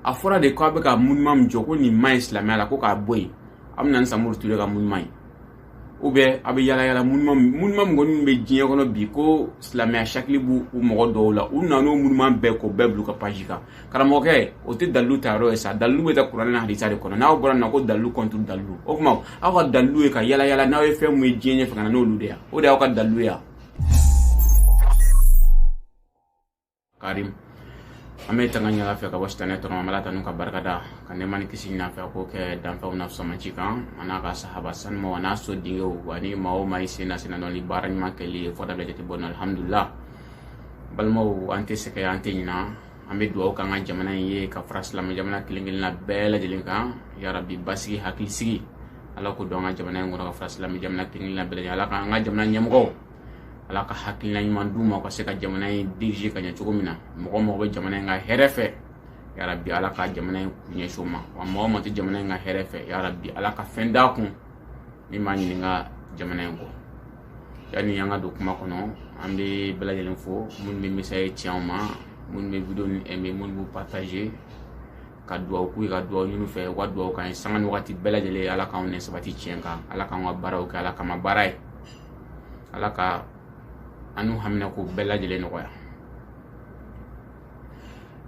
a fɔra de ko a bɛ ka monument min jɔ ko nin man ɲi silamɛya la ko k'a bɔ yen a bɛna ni samori ture ka monument ye u bɛ a bɛ yala yala monument monument min kɔni bɛ diɲɛ kɔnɔ bi ko silamɛya sakili b'u u mɔgɔ dɔw la u nan'o monument bɛɛ k'o bɛɛ bila u ka paji kan karamɔgɔkɛ o tɛ dalilu ta yɔrɔ ye sa dalilu bɛ ta kuranɛ ni hadisa de kɔnɔ n'aw bɔra nin na ko dalilu kɔnturu dalilu o tuma aw ka dalilu ye ka yala yala n'aw ye fɛn min ye diɲɛ ɲɛfɛ ka na n'olu de ye o de y'aw ka dalilu ye karim an bɛ tanga ɲin'ala fɛ ka bɔ sitanɛ tɔɔrɔ ma an b'ala tanu ka barika da ka nɛma ni kisi ɲin'a fɛ k'o kɛ danfɛnw na fisamanci kan a n'a ka sahaba sanumaw a n'a sodenw ani maa o maa i sen na senna ni baara ɲuman kɛli ye fɔda bɛ jate bɔ na alhamdulila balimaw an tɛ sɛgɛn an tɛ ɲina an bɛ dugawu k'an ka jamana in ye ka fara silamɛ jamana kelen kelenna bɛɛ lajɛlen kan yarabi basigi hakilisigi ala k'o don an ka jamana in kɔnɔ ka fara silamɛ jamana kelen kelenna bɛɛ lajɛlen ala k'an ka jamana ɲɛmɔgɔw ala ka hakilina ɲuman d'u ma u ka se ka jamana in dirige ka ɲɛ cogo min na mɔgɔ mɔgɔ bɛ jamana in ka hɛrɛ fɛ yarabi ala ka jamana in kun ɲɛsin o ma wa mɔgɔ min tɛ jamana in ka hɛrɛ fɛ yarabi ala ka fɛn d'a kun min b'a ɲin'an ka jamana in kɔ yanni an ka don kuma kɔnɔ an bɛ bɛɛ lajɛlen fo minnu bɛ message ci anw ma minnu bɛ video nin aimé minnu b'u partager ka dugawu k'u ye ka dugawu ɲini u fɛ u ka dugawu k'an ye sanga ni wagati bɛɛ lajɛlen ala k'anw nɛ sabati tiɲɛ kan ala k'an ka baaraw kɛ ala kama baara ye ala ka an n'u haminako bɛɛ lajɛlen nɔgɔya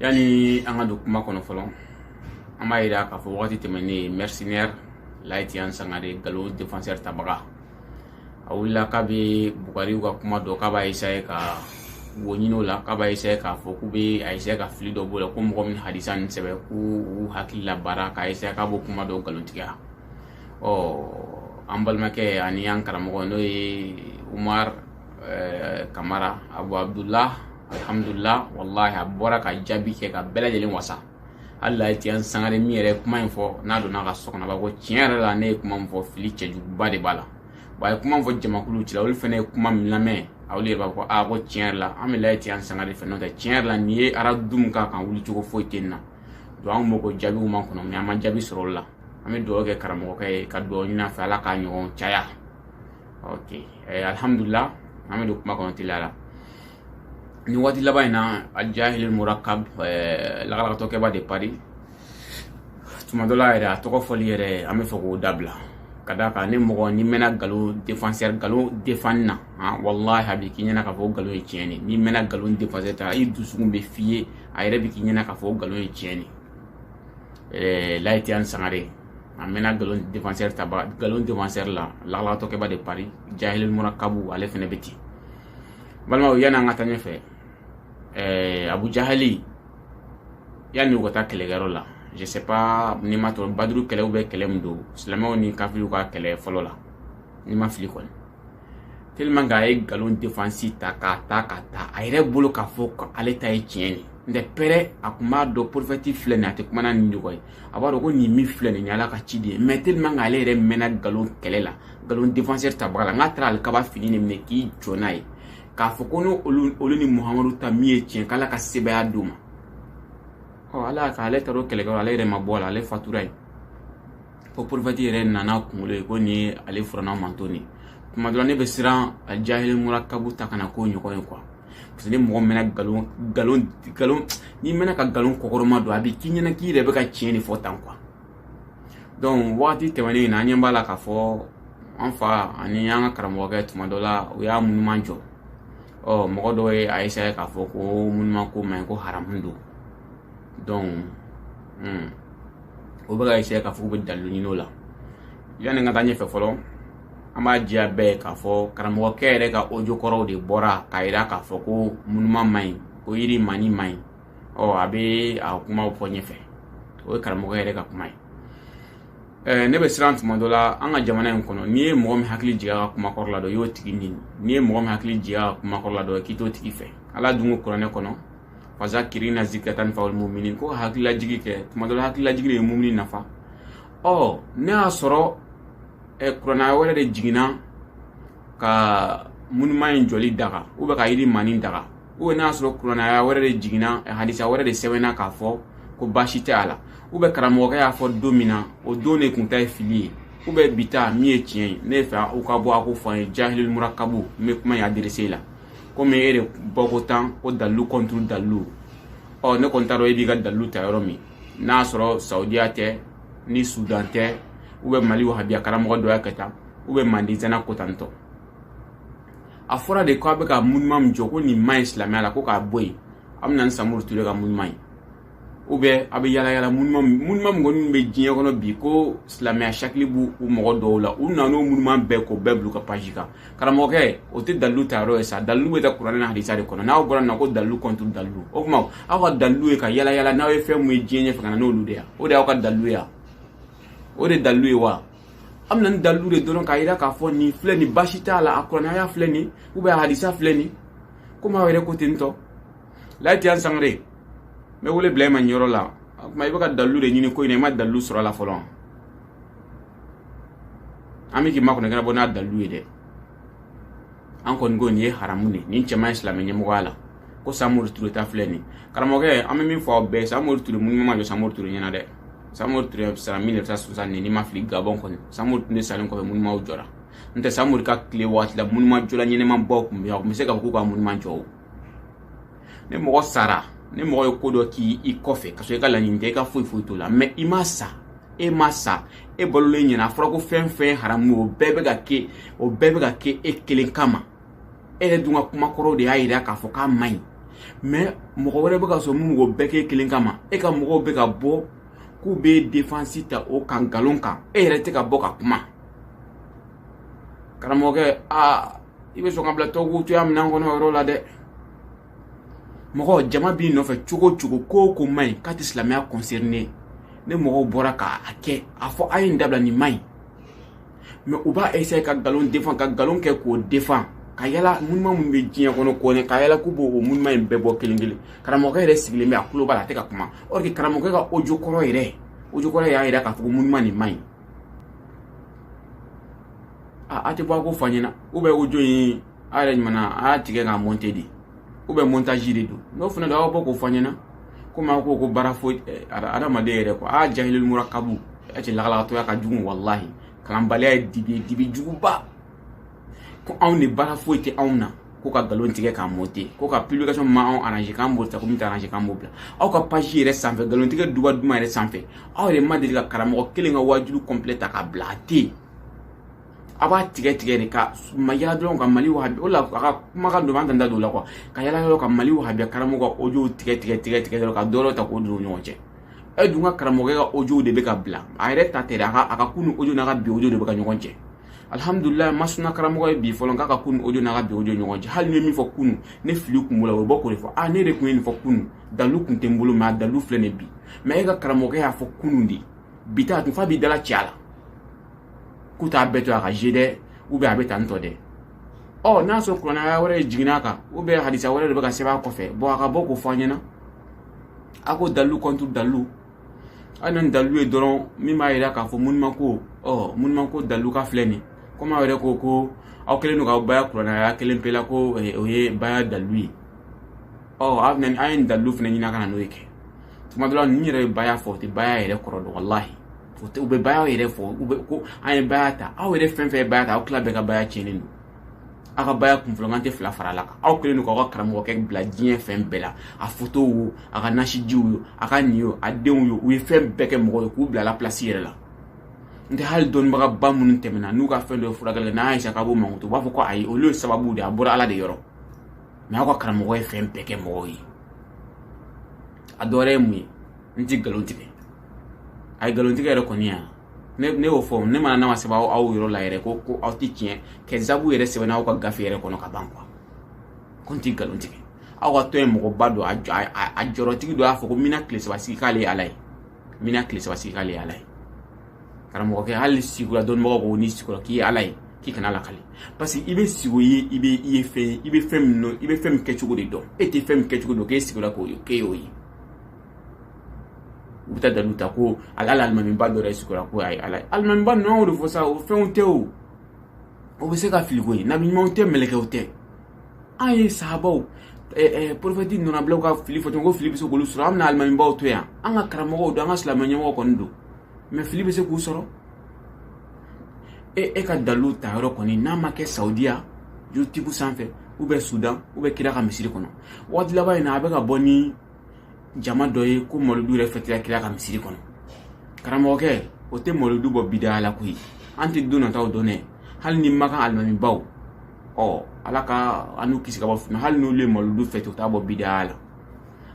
yanni an ka don kuma kɔnɔ fɔlɔ an b'a yira k'a fɔ wagati tɛmɛnnen mercenaire layitiyan sangare galo defenseur tabaga a wulila k'a bɛ bukari ka kuma dɔ k'a b'a essayer ka wo ɲini o la k'a b'a essayer k'a fɔ k'u bɛ a essayer ka fili dɔ b'o la ko mɔgɔ min hadisa nin sɛbɛn k'u hakili labaara k'a essayer k'a b'o kuma dɔw nkalontigiya ɔ an balimakɛ ani an karamɔgɔ n'o ye umar eh, kamara abu abdullah alhamdulillah wallahi a bɔra ka jaabi kɛ ka bɛɛ lajɛlen wasa hali layitiyan sangare min yɛrɛ ye kuma in fɔ n'a donna a ka so kɔnɔ a b'a fɔ ko tiɲɛ yɛrɛ la ne ye kuma min fɔ fili cɛjuguba de b'a la wa a ye kuma min fɔ jamakulu cɛ la olu fana ye kuma min lamɛn olu yɛrɛ b'a fɔ ko aa ko tiɲɛ yɛrɛ la an bɛ layitiyan sangare fɛ n'o tɛ tiɲɛ yɛrɛ la nin ye aradu min k'a kan wuli cogo foyi tɛ nin na donc an kun b'o ko jaabiw makɔnɔ mais an ma jaabi sɔrɔ olu la an bɛ dugawu kɛ karamɔgɔkɛ ye ka dugawu ɲini a fɛ ala k'a ɲɔgɔn caya ok alihamudulila an bɛ don kuma kɔnɔ teliya la ni waati laban in na a jahil murakab eh, lagalagatɔkɛba de paris tuma dɔ la yɛrɛ a tɔgɔ fɔli yɛrɛ an b'a fɛ k'o dabila ka da kan ni mɔgɔ ni mɛnna galo defansɛri galo defani na han walahi a bɛ k'i ɲɛna k'a fɔ galo ye tiɲɛ de n'i mɛnna galo defansɛri ta i dusukun b'a f'i ye a yɛrɛ bɛ k'i ɲɛna k'a fɔ galo ye tiɲɛ de layitiyan sangare a mɛnna galo defansɛri ta galo defansɛri la lagalagatɔkɛba de paris jahil murakabu ale fana bɛ ten balimaw yani an ka taa ɲɛfɛ eh, abu jahali yani u ka taa kɛlɛkɛyɔrɔ la je sais pas ni ma tɔrɔ baduru kɛlɛ u bɛ kɛlɛ min don silamɛw ni kafiriw ka kɛlɛ fɔlɔ la ni ma fili kɔni tellement k'a ye nkalon defansi ta k'a ta ka ta a yɛrɛ bolo k'a fɔ ko ale ta ye tiɲɛ de n tɛ pɛrɛ a tun b'a dɔn porofɛti filɛ nin a tɛ kuma n'a nidungɔ ye a b'a dɔn ko nin min filɛ nin ye ala ka ciden ye mais tellement k'ale yɛrɛ mɛnna nkalon kɛlɛ la nkalon defansɛri tabaga la n'a taara alikaba fini de minɛ k'i jɔ n'a ye k'a fɔ ko ni olu ni muhamadu ta min ye tiɲɛ k'ala ka sebaya d'o ma ɔ ala y'a kɛ ale taara o kɛlɛkɛyɔrɔ ale yɛrɛ ma bɔ a la ale fatura yen fo porofɛti yɛrɛ nan'a kunkolo ye ko nin ye ale firawuna mantɔn nin tuma dɔ la ne bɛ siran a jahili murakabu ta kana k'o ɲɔgɔn ye quoi parce que ni mɔgɔ mɛnna nkalon nkalon nkalon n'i mɛnna ka nkalon kɔkɔrɔma don a bɛ k'i ɲɛna k'i yɛrɛ bɛ ka tiɲɛ de fɔ tan quoi donc wagati tɛmɛnen in na an ɲɛ b'a la k'a fɔ an fa ani an ka karamɔgɔkɛ tuma dɔ la u y'a munuma jɔ ɔ mɔgɔ dɔw y'a essayer k'a fɔ ko munuma ko man ɲi ko haramu don donc hmm, o bɛ ka essayer k'a fɔ k'u bɛ dalilu ɲini o la yanni ka taa ɲɛfɛ fɔlɔ an b'a jira bɛɛ ye k'a fɔ karamɔgɔkɛ yɛrɛ ka audio kɔrɔw de bɔra k'a jira k'a fɔ ko munuma man ɲi ko yirimaani man ɲi ɔ a bɛ a kumaw fɔ ɲɛfɛ o ye karamɔgɔ yɛrɛ ka kuma ye ɛɛ ne bɛ siran tuma dɔ la an ka jamana in kɔnɔ n'i ye mɔgɔ min hakili jigin a ka kuma kɔrɔ la dɔ i y'o tigi nɛni n'i ye mɔgɔ min hakili jigin a ka kuma kɔrɔ la dɔ k'i t'o tigi fɛ ala dun ko kuranɛ kɔnɔ fazakiri inna zikira tanfa mumini ko hakililajigi kɛ tuma dɔ la hakililajigi de ye mumini nafa ɔ n'a y'a sɔrɔ ɛ kuranɛ wɛrɛ de jiginna ka munuma in jɔli daga ou bien ka yirimaani daga ou bien n'a sɔrɔ kuranaya wɛrɛ de jiginna hadisa wɛrɛ de sɛbɛnna k'a fɔ ko baasi tɛ a la ou bien karamɔgɔkɛ y'a fɔ don min na o don de kun ta ye fili ye ou bien bi ta min ye tiɲɛ ye ne fɛ u ka bɔ k'o fɔ an ye jahilil murakabu n bɛ kuma in adrese la komi e de bɔko tan ko dalilu contre dalilu ɔ ne kɔni t'a dɔn e b'i ka dalilu ta yɔrɔ min n'a sɔrɔ saudiya tɛ ni sudan tɛ ou bien mali wahabiya karamɔgɔ dɔ y'a kɛ tan ou bien mandizana ko tantɔ a fɔra de k'a bɛ ka munuma min jɔ ko nin man ɲi silamɛya la ko k'a bɔ yen a bɛ na ni samori ture ka munuma ye ou bien a bɛ yala yala munuma munuma min kɔni bɛ diɲɛ kɔnɔ bi ko silamɛya sakili b'u u mɔgɔ dɔw la u nana n'o munuma bɛɛ k'o bɛɛ bila ka paji kan karamɔgɔkɛ o tɛ dalilu ta yɔrɔ ye sa dalilu bɛ ta kuranɛ ni hadisa de kɔnɔ n'aw bɔra na ko dalilu contre dalilu o tuma aw ka dalilu ye ka yala yala n'aw ye fɛn min ye diɲɛ ɲɛfɛ ka na n'olu de ye o de y'aw ka dalilu ye o de dalilu ye wa aw bɛ na ni dalilu de dɔrɔn k'a yira k'a fɔ nin filɛ nin basi t'a la a kuranɛ aya filɛ nin ou bien a hadisa filɛ nin komi aw yɛrɛ ko ten tɔ layitu yan sangare n bɛ wele bila e ma nin yɔrɔ la o tuma i bɛ ka dalilu de ɲini ko in na i ma dalilu sɔrɔ a la fɔlɔ an bɛ k'i makɔnɔ kɛnɛ bɔ n'a dalilu ye dɛ an kɔni ko nin ye haramu de ye nin cɛ man ɲi silamɛ ɲɛmɔgɔya la ko samori ture ta filɛ nin karamɔgɔkɛ an bɛ min fɔ aw bɛɛ samori ture monument ma jɔ samori ture ɲɛna dɛ samori ture sara 1960 ni ne ma fili gabɔn kɔni samori ture de salen kɔfɛ monumentw jɔra n tɛ samori ka tile waati la monument jɔla ɲɛnamabaw tun bɛ yan u tun bɛ se ka fɔ k'u ka monument jɔ o ni mɔgɔ sara ni mɔgɔ ye ko dɔ kɛ i kɔfɛ ka sɔrɔ i ka laɲini tɛ i ka foyi foyi t'o la mɛ i ma sa e ma sa e balolen ɲɛna a fɔra ko fɛn fɛn haramu o bɛɛ bɛ ka kɛ o bɛɛ bɛ ka kɛ e kelen kama e yɛrɛ dun ka kuma kɔrɔw de y'a yira k'a fɔ k'a man ɲi mɛ mɔgɔ wɛrɛ bɛ ka sɔrɔ minnu ko bɛɛ k'e kelen kama e ka mɔgɔw bɛ ka bɔ k'u b'i defansi ta o kan nkalon kan e yɛrɛ tɛ ka bɔ ka kuma karamɔgɔkɛ aa i bɛ sɔn ka bila tɔw cogoya minɛn kɔnɔ yɔrɔ la dɛ mɔgɔ jama b'i nɔfɛ cogo o cogo ko o ko man ɲi k'a tɛ silamɛya kɔnsɛrine ni mɔgɔw bɔra k'a kɛ a fɔ a ye nin dabila nin man ɲi mɛ u b'a essaye ka nkalon defan ka nkalon kɛ k'o defan ka yala monument minnu bɛ diɲɛ kɔnɔ kɔni ka yala k'u b'o o monument in bɛɛ bɔ kelen kelen karamɔgɔkɛ yɛrɛ sigilen bɛ a tulo b'a la a tɛ ka kuma or que karamɔgɔkɛ ka ojo kɔrɔ yɛrɛ ojo kɔrɔ y'a yira k'a fɔ ko monument nin man ɲi a a tɛ bɔ a k'o fɔ an ɲɛna ou bien ojo in a yɛrɛ ɲuman aw y'a tigɛ k'a mɔnte de ou bien montage de don n'o fana don aw bɔ k'o fɔ an ɲɛna komi aw ko ko baara foyi adamaden yɛrɛ kuwa aa jahilil murakabu a cɛ lagalagatɔya ka jugu walahi kalanbaliya ye dibi ye dibi juguba ko anw de baara foyi tɛ anw na ko ka nkalon tigɛ k'a mɔnte ko ka publication min b'anw arrange k'an b'o ta ko min tɛ arrange k'an b'o bila aw ka page yɛrɛ sanfɛ nkalon tigɛ duba duman yɛrɛ sanfɛ aw yɛrɛ ma deli ka karamɔgɔ kelen ka waajulu complet ta k'a bila a tɛ yen a b'a tigɛ tigɛ de ka ma yala dɔrɔn ka mali wahabi o la a ka kumakan don an tɛ da don o la kuwa ka yala yɔrɔ ka mali wahabiya karamɔgɔ ka ojow tigɛ tigɛ tigɛ tigɛ dɔrɔn ka dɔrɔn ta k'o don u ɲɔgɔn cɛ e dun ka karamɔgɔkɛ ka ojow de bɛ ka bila a yɛrɛ ta tɛ dɛ a ka a ka kunu ojo n'a ka bi ojo de bɛ ka ɲɔgɔn cɛn alihamudulila a ma suna karamɔgɔ ye bi fɔlɔ k'a ka kunu ojo n'a ka bi ojo ɲɔgɔn cɛn hali ne min fɔ kunu ni fili kun b'o la o bɛ bɔ k'o de fɔ a ne de kun ye nin fɔ kunu dalilu kun tɛ n bolo mɛ a dalilu filɛ nin bi mɛ e ka karamɔgɔkɛ y'a fɔ kunu de bi ta a tun f'a b'i dalacɛ a la k'u t'a bɛɛ to a ka je dɛ ou bien a bɛ tan tɔ dɛ ɔ n'a sɔrɔ kuranɛ aya wɛrɛ jiginna a kan ou bien hadisa wɛrɛ de bɛ ka sɛbɛn a kɔfɛ bɔn a ka bɔ k'o fɔ an ɲɛna a ko dalilu contre dalilu a ye na ni dalilu ye dɔrɔn min b'a yira k'a fɔ monument ko ɔ monument ko dalilu ka filɛ nin komi aw yɛrɛ ko ko aw kɛlen don k'aw baya kuranɛ aya kelen pe la ko o ye baya dalilu ye ɔ aw bɛna ni an ye nin dalilu fana ɲini aw ka na n'o ye kɛ tuma dɔ la ninnu yɛrɛ ye baya fɔ u tɛ baya yɛrɛ kɔrɔ dɔn walahi u bɛ bayaw yɛrɛ fɔ u bɛ ko an ye baya ta aw yɛrɛ fɛn fɛn ye baya ta aw tila bɛɛ ka baya tiɲɛnen don aw ka baya kunfɔlɔman tɛ fila fara ala kan aw kɛlen don k'aw ka karamɔgɔkɛ bila diɲɛ fɛn bɛɛ la a fotow wo a ka nasijiw yo a ka nin yo a denw yo u ye fɛn bɛɛ kɛ mɔgɔ ye k'u bila ala pilasi yɛrɛ la n tɛ hali dɔnnibagaba minnu tɛmɛna n'u ka fɛn dɔ furakɛ la n'a y'a k'a b'o mankutu u b'a fɔ ko ayi olu ye sababu de a bɔra ala de yɔrɔ mɛ aw ka karamɔgɔ ye fɛn bɛɛ kɛ mɔgɔw ye a dɔwɛrɛ ye mun ye n ti nkalon tigɛ a ye nkalon tigɛ yɛrɛ kɔni yan ne ne y'o fɔ ne mana n'a ma sɛbɛn aw yɔrɔ la yɛrɛ ko ko aw ti tiɲɛ kɛ sabu yɛrɛ sɛbɛnna aw ka gafe yɛrɛ kɔnɔ ka ban kuwa ko n ti nkalon tigɛ aw ka tɔn ɲɛmɔgɔba dɔ a jɔyɔrɔtigi dɔ y'a fɔ ko mina tile saba sigi k'ale ye ala ye mina tile saba sigi k'ale ye ala ye karamɔgɔkɛ hali sigo la dɔnnibagaw ko n'i sigora k'i ye ala ye k'i kan'a lakale parce que i bɛ sigo ye i bɛ i ye fɛn ye i bɛ fɛn min dɔn i bɛ fɛn min kɛcogo de dɔn e tɛ fɛn min kɛcogo dɔn k'e sigora k'o ye k'e y'o ye u bɛ taa dalu ta ko ala alimamiba dɔ yɛrɛ sigora ko ayi ala alimamiba ninnu y'o de fɔ sa o fɛnw tɛ o o bɛ se ka fili koyi nabiɲumanw tɛ mɛlɛkɛw tɛ an ye sahabaw porofɛti nɔnabilaw ka fili fɔ ko fili bɛ se k'olu sɔrɔ an bɛna alimamibaw to yan an ka karamɔgɔw don an ka silamɛ ɲɛmɔgɔ kɔni don mɛ fili bɛ se k'u sɔrɔ e e ka dalu ta yɔrɔ kɔni n'a ma kɛ saudiya youtube sanfɛ u bɛ sudan u bɛ kira ka misiri kɔnɔ waati laban in na a bɛ ka bɔ ni jama dɔ ye ko malodu yɛrɛ fɛtira kira ka misiri kɔnɔ karamɔgɔkɛ o tɛ malodu bɔ bidaya la koyi an tɛ don nataw dɔn dɛ hali ni makan alimamibaw ɔ ala ka an n'u kisi ka bɔ fitna hali n'olu ye malodu fɛte u t'a bɔ bidaya la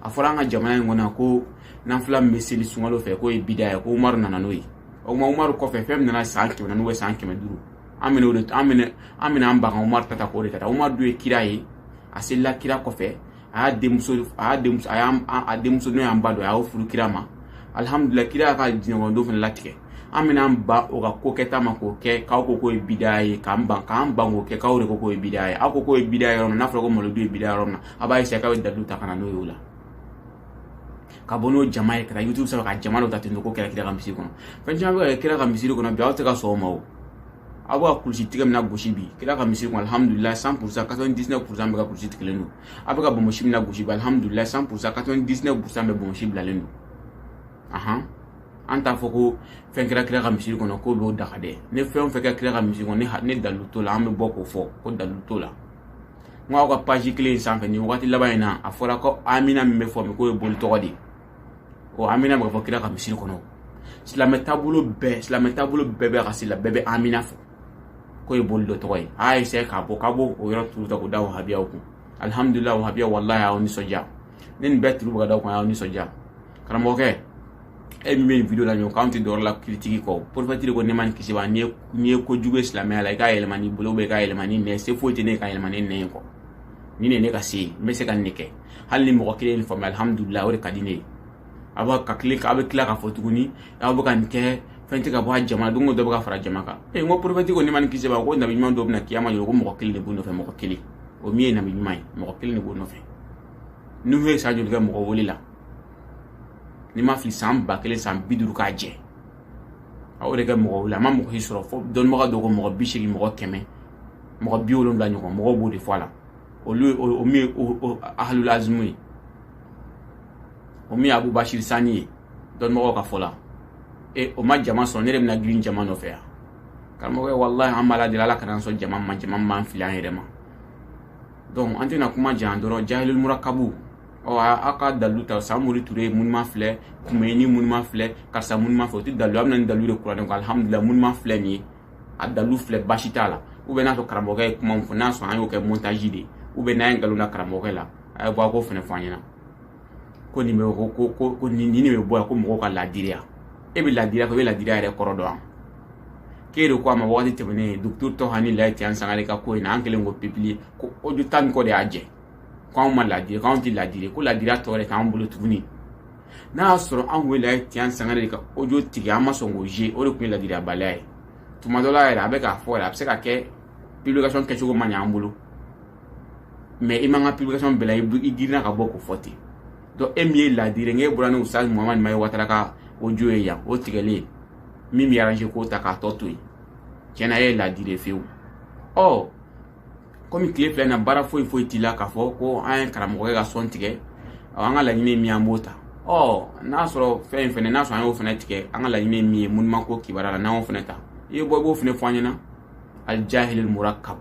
a fɔra an ka jamana in kɔnɔ ko nanfila min bɛ seli sunkalo fɛ k'o ye bidaya ye ko umaru nana n'o ye o tuma umaru kɔfɛ fɛn min nana san kɛmɛ naani ou bien san kɛmɛ duuru an bɛna o de an bɛna an bɛna an ban ka umaru ta ta k'o de ka taa umaru dun ye kira ye a selila kira kɔfɛ a y'a denmuso a y'a denmuso a y'an a denmuso n'o y'an ba don a y'o furu kira ma alihamudulila kira y'a ka alijinɛ kɔnɔ don fana latigɛ an bɛna an ban o ka ko kɛta ma k'o kɛ k'aw ko k'o ye bidaya ye k'an ban k'an ban k'o kɛ k'aw de ko k'o ye bidaya ye aw ko k'o ye bidaya yɔrɔ min n'a fɔra ko malodu ye bidaya yɔrɔ min na a b'a eseye k'aw ye dalu ta ka na n'o ye o la ka bɔ n'o jama ye ka taa youtube sɔrɔ ka jama dɔ ta ten k'o kɛra kira ka misiri kɔnɔ fɛn caman bɛ ka kɛ kira ka misiri kɔnɔ bi aw tɛ ka sɔn o ma o aw bɛ ka kulusi tigɛ min lagosi bi kira ka misiri kɔnɔ alihamudulila cent pour cent quatre-vingt-dix-neuf pour cent bɛɛ ka kulusi tigɛlen don aw bɛ ka bɔnmɔsi min lagosi bi alihamudulila cent pour cent quatre-vingt-dix-neuf pour cent bɛɛ bɔnmɔsi bilalen don ahan an t'a fɔ ko fɛn kɛra kira ka misiri kɔnɔ k'o b'o daga dɛ ni fɛn o fɛn kɛra kira ka misiri kɔnɔ ne ha- ne dalilu t'o la an bɛ bɔ k'o fɔ ko dalilu t'o la n ko aw ka paji kelen in sanfɛ nin wagati laban in na a fɔra ko amina min bɛ fɔ min k'o ye boli tɔgɔ de ye ɔ amina bɛ ka fɔ kira ka misiri kɔnɔ silamɛ taabolo bɛɛ silamɛ taabolo bɛɛ bɛ ka sila bɛɛ bɛ amina fɔ k'o ye boli dɔ tɔgɔ ye a y'a eseye k'a bɔ k'a b'o o yɔrɔ turu ta k'o da wahabiyaw kun alihamudulila wahabiya walahi y'aw nisɔndiya ni nin bɛɛ turu bɛ ka da aw kan y'aw nisɔndiya karamɔgɔkɛ e min bɛ nin video la ɲɔgɔn k'anw tɛ dɔwɛrɛ la kiritiki kɔ porofɛti de ko nɛɛma ni kisi b'a n'i ye ko jugu ye silamɛya la i k'a yɛlɛma n'i bolo i k'a yɛlɛma n'i nɛn se foyi tɛ ne ye k'a yɛlɛma ni nɛn ye kɔ nin de ne ka se ye n bɛ se ka nin de kɛ hali ni mɔgɔ kelen nin faamuya alihamudulila o de ka di ne ye a b'a ka tile a bɛ tila k'a fɔ tuguni aw bɛ ka nin kɛ fɛn tɛ ka bɔ a jama don o don dɔ bɛ ka fara jama kan ee n ko porofɛti ko nɛɛma ni kisi b'a ko nabi ɲuman dɔ bɛ na kiyama don ko mɔgɔ kelen de b'o nɔfɛ mɔgɔ kelen o min ye nabi ɲuman ye mɔgɔ kelen de b'o nɔfɛ nuhu ye san joli kɛ mɔgɔ wele la ni n ma fili san ba kelen san bi duuru k'a jɛ a y'o de kɛ mɔgɔ wele la a ma mɔgɔ si sɔrɔ fo dɔnnibaga dɔ ko mɔgɔ bi seegin mɔgɔ kɛmɛ mɔgɔ bi wolonwula ɲɔgɔn mɔgɔw b'o de fɔ a la olu ye o min ye o ahalul azimu ye o min ye abubasiri sani ye dɔnmɔgɔw ka fɔ la e o ma jama sɔrɔ ne de bɛna girin jama nɔfɛ yan karamɔgɔkɛ walahi an b'ala deli ala kana sɔn jama ma jama b'an fili an yɛrɛ ma donc an tɛna kuma jan dɔrɔn jahilul murakabu ɔ aw ka dalilu ta samori ture munuma filɛ kumeyini munuma filɛ karisa munuma filɛ o tɛ dalilu a bɛ na ni dalilu de kuranɛ ko alihamudulila munuma filɛ nin ye a dalu filɛ basi t'a la u bɛ n'a sɔrɔ karamɔgɔkɛ ye kuma min fɔ n'a sɔrɔ an y'o kɛ montage de ye u bɛ n'an ye nkalon da karamɔgɔkɛ la a ye bɔ a k'o fana fɔ an ɲɛna ko nin bɛ ko ko ko ko nin nin de bɛ bɔ yan ko mɔgɔw ka laadiriya e bɛ laadiriya fɔ e bɛ laadiriya yɛrɛ kɔrɔ dɔn k'e de ko a ma wagati tɛmɛnen dugutigi tɔ hani layi tian sangare ka ko in na an kɛlen k'o publier ko ojo tan ni kɔ de y'a jɛ ko anw ma laadiri ko anw tɛ laadiri ko laadiriya tɔ yɛrɛ t'an bolo tuguni n'a y'a sɔrɔ anw de ye tian sangare ka ojo tigɛ an ma sɔn k'o ye o de tun ye ladiriyabaliya ye tuma dɔ la yɛrɛ a bɛ k'a fɔ yɛrɛ a bɛ se ka kɛ publication kɛcogo ma ɲɛ an bolo mais i man kan publication bɛɛ la i girinna ka bɔ k'o fɔ ten donc e min ye ladiri n'e bɔra ni ustaz muhamad mahi watara ka ojo ye yan o tigɛlen min b'i arrange k'o ta k'a tɔ to yen tiɲɛ na e ye ladiri ye fewu ɔ komi tile fila in na baara foyi foyi t'i la k'a fɔ ko an ye karamɔgɔkɛ ka son tigɛ an ka laɲini ye min an b'o ta ɔ n'a sɔrɔ fɛn in fɛnɛ n'a sɔrɔ an y'o fɛnɛ tigɛ an ka laɲini ye min ye munuma ko kibaruya la n'an y'o fɛnɛ ta i bɔ i b'o fɛnɛ fɔ an ɲɛna al jahil murakab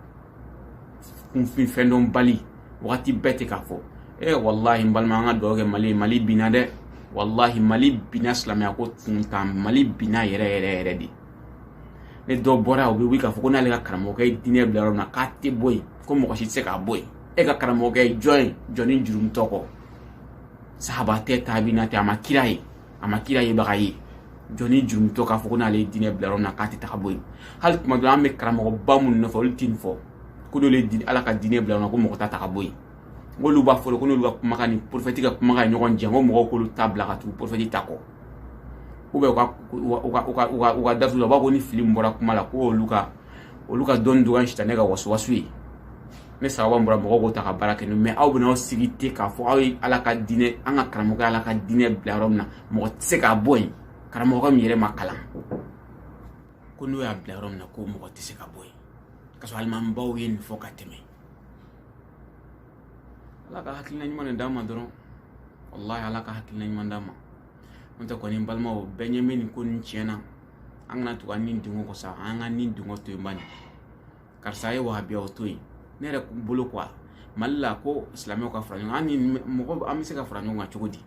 kunfin fɛndɔnbali wagati bɛɛ tɛ k'a fɔ e walahi n balima an ka dugawu kɛ mali mali binna dɛ walahi mali binna silamɛya ko tun tɛ tan mali binna yɛrɛ yɛrɛ yɛrɛ dɛ ni dɔ bɔra u bɛ wuli k'a fɔ ko n'ale ka karamɔgɔkɛ ye diinɛ bila yɔrɔ min na k'a tɛ bɔ yen ko mɔgɔ si tɛ se k'a bɔ yen e ka karamɔgɔkɛ ye jɔn ye jɔnnin jurumutɔ kɔ sahaba tɛ taabina tɛ a ma kira ye a ma kira yebaga ye jɔnnin jurumutɔ k'a fɔ ko n'ale ye diinɛ bila yɔrɔ min na k'a tɛ ta ka bɔ yen hali tuma dɔ an bɛ karamɔgɔba minnu nɔfɛ olu tɛ nin fɔ ko n'olu ye diinɛ ala ka diinɛ bila yɔrɔ min na ko mɔgɔ t'a ta ka bɔ yen n'olu b'a fɔ ko n'olu ka kumakan ni porofɛti ka kumakan ye ɲɔgɔn jɛ ko mɔgɔw k'olu ta bila ka tugu porofɛti ta kɔ u bɛ u ka darisi laban ko ni fili min bɔra kuma la ko olu ka olu ka dɔnni dɔgɔya sitanɛ ka wasuwasu ye ni sawaba bɔra mɔgɔw k'o ta ka baara kɛ n'o mɛ aw bɛna aw sigi ten k'a fɔ aw ye ala ka diinɛ an ka karamɔgɔ ala ka diinɛ bila yɔrɔ min na mɔgɔ tɛ se k'a bɔ yen karamɔgɔ min yɛrɛ ma kalan ko n'o y'a bila yɔrɔ min na ko mɔgɔ tɛ se k'a bɔ yen ka sɔrɔ alimamibaw ye nin fɔ ka tɛmɛ ala ka hakilina ɲuman de d'a ma dɔrɔn walahi ala ka hakilina ɲuman d'a ma n'o tɛ kɔni balimaw bɛɛ ɲɛ bɛ nin ko nin tiɲɛ na an kana tugu an ni dungo kɔ sa an ka ni dungo to yen bani karisa ye wahabiya o to yen ne yɛrɛ bolo kuwa mali la ko silamɛw ka fara ɲɔgɔn kan an ni mɔgɔ an bɛ se ka fara ɲɔgɔn kan cogo di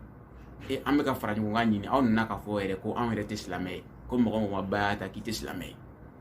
e an bɛ ka fara ɲɔgɔn kan ɲini aw nana k'a fɔ yɛrɛ ko anw yɛrɛ tɛ silamɛ ye ko mɔgɔ mɔgɔ ba y'a ta k'i tɛ silamɛ ye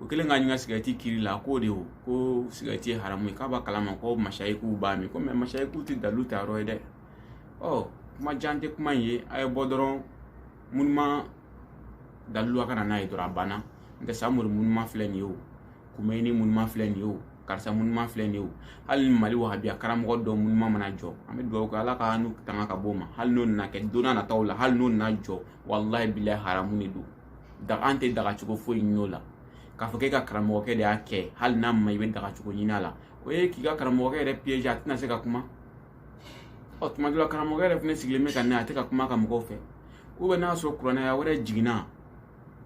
o kɛlen ka ɲinka sigɛrɛti kiri la k'o de o ko sigɛrɛti ye haramu ye k'a b'a kalama ko masayikuw b'a min ko mɛ masayikuw tɛ dalilu ta yɔrɔ ye dɛ ɔ kuma jan tɛ kuma in ye a ye bɔ dɔrɔn monument dalilu a ka na n'a ye dɔrɔn a banna n'o tɛ samori monument filɛ nin ye o kumeyini monument filɛ nin ye o karisa monument filɛ nin ye o hali ni mali wahabiya karamɔgɔ dɔ monument mana jɔ an bɛ dugawu kɛ ala k'anw tanga ka bɔ o ma hali n'o nana kɛ don nataw la hali n'o nana jɔ walahi bilahi haramu de don daga an tɛ daga cogo foyi ɲin'o la k'a fɔ k'e ka karamɔgɔkɛ de y'a kɛ hali n'a ma i bɛ daga cogo ɲini a la o ye k'i ka karamɔgɔkɛ yɛrɛ piège a tɛna se ka kuma ɔ tuma dɔ la karamɔgɔkɛ yɛrɛ fana sigilen bɛ ka na a tɛ ka kuma ka mɔgɔw fɛ u bɛn'a sɔrɔ kurana aya wɛrɛ jiginna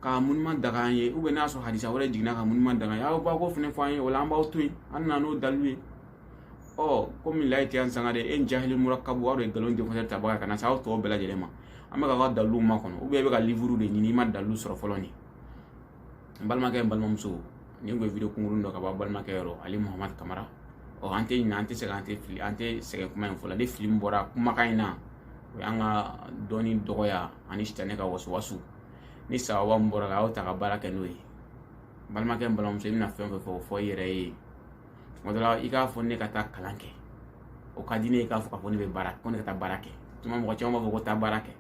ka monument daga an ye u bɛn'a sɔrɔ hadisa wɛrɛ jiginna ka monument daga an ye aw b'a ko fana fɔ an ye o la an b'aw to yen an nana n'o dalilu ye ɔ komi layi tɛ yan sanga de e jahili murakabu aw de ye nkalon defɔsɛ tabaga ka na se aw tɔw bɛɛ lajɛlen ma an bɛ k'a ka dalilu makɔnɔ ubiyɛn i bɛ ka livuru de ɲini i ma dalilu sɔrɔ fɔlɔ nin n balimakɛ n balimamuso nin tun ye video kunkuruni dɔ ka bɔ balimakɛ yɔrɔ ale muhamadu kamara ɔ an tɛ ɲinɛ an tɛ sɛgɛn an tɛ fili an tɛ sɛgɛn kuma in fɔ la ni fili min bɔra kumakan in na o y'an ka dɔnni dɔgɔya ani sitanɛ ka wasuwasu ni sawaba min bɔr'a la a y'o ta ka baara kɛ n'o ye balimakɛ n balimamuso i bɛna fɛn o fɛn fɔ o fɔ i yɛrɛ ye tuma dɔ la i k'a fɔ ne ka taa kalan kɛ o ka di ne ye k'a fɔ k'a fɔ ne bɛ baara ko ne ka taa baara kɛ tuma mɔgɔ caman b'a fɔ ko taa baara kɛ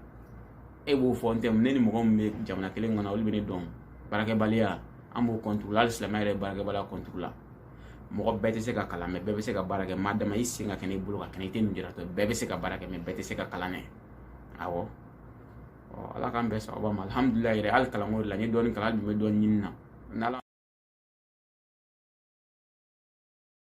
e b'o fɔ n'o tɛ ne ni mɔgɔ min bɛ jamana kelen kɔnɔ olu bɛ ne dɔn baarakɛbaliya an b'o kɔnturu hali silamɛ yɛrɛ baarakɛbaliya kɔnturu la mɔgɔ bɛɛ tɛ se ka kalan mɛ bɛɛ bɛ se ka baara kɛ maa dama i sen ka kɛnɛ i bolo ka kɛnɛ i tɛ lujuratɔ bɛɛ bɛ se ka baara kɛ mɛ bɛɛ tɛ se ka kalan kɛ awɔ ala k'an bɛɛ sawaba ma alihamudulila yɛrɛ hali kalanko la n ye dɔɔnin kalan an dun bɛ dɔɔnin ɲini na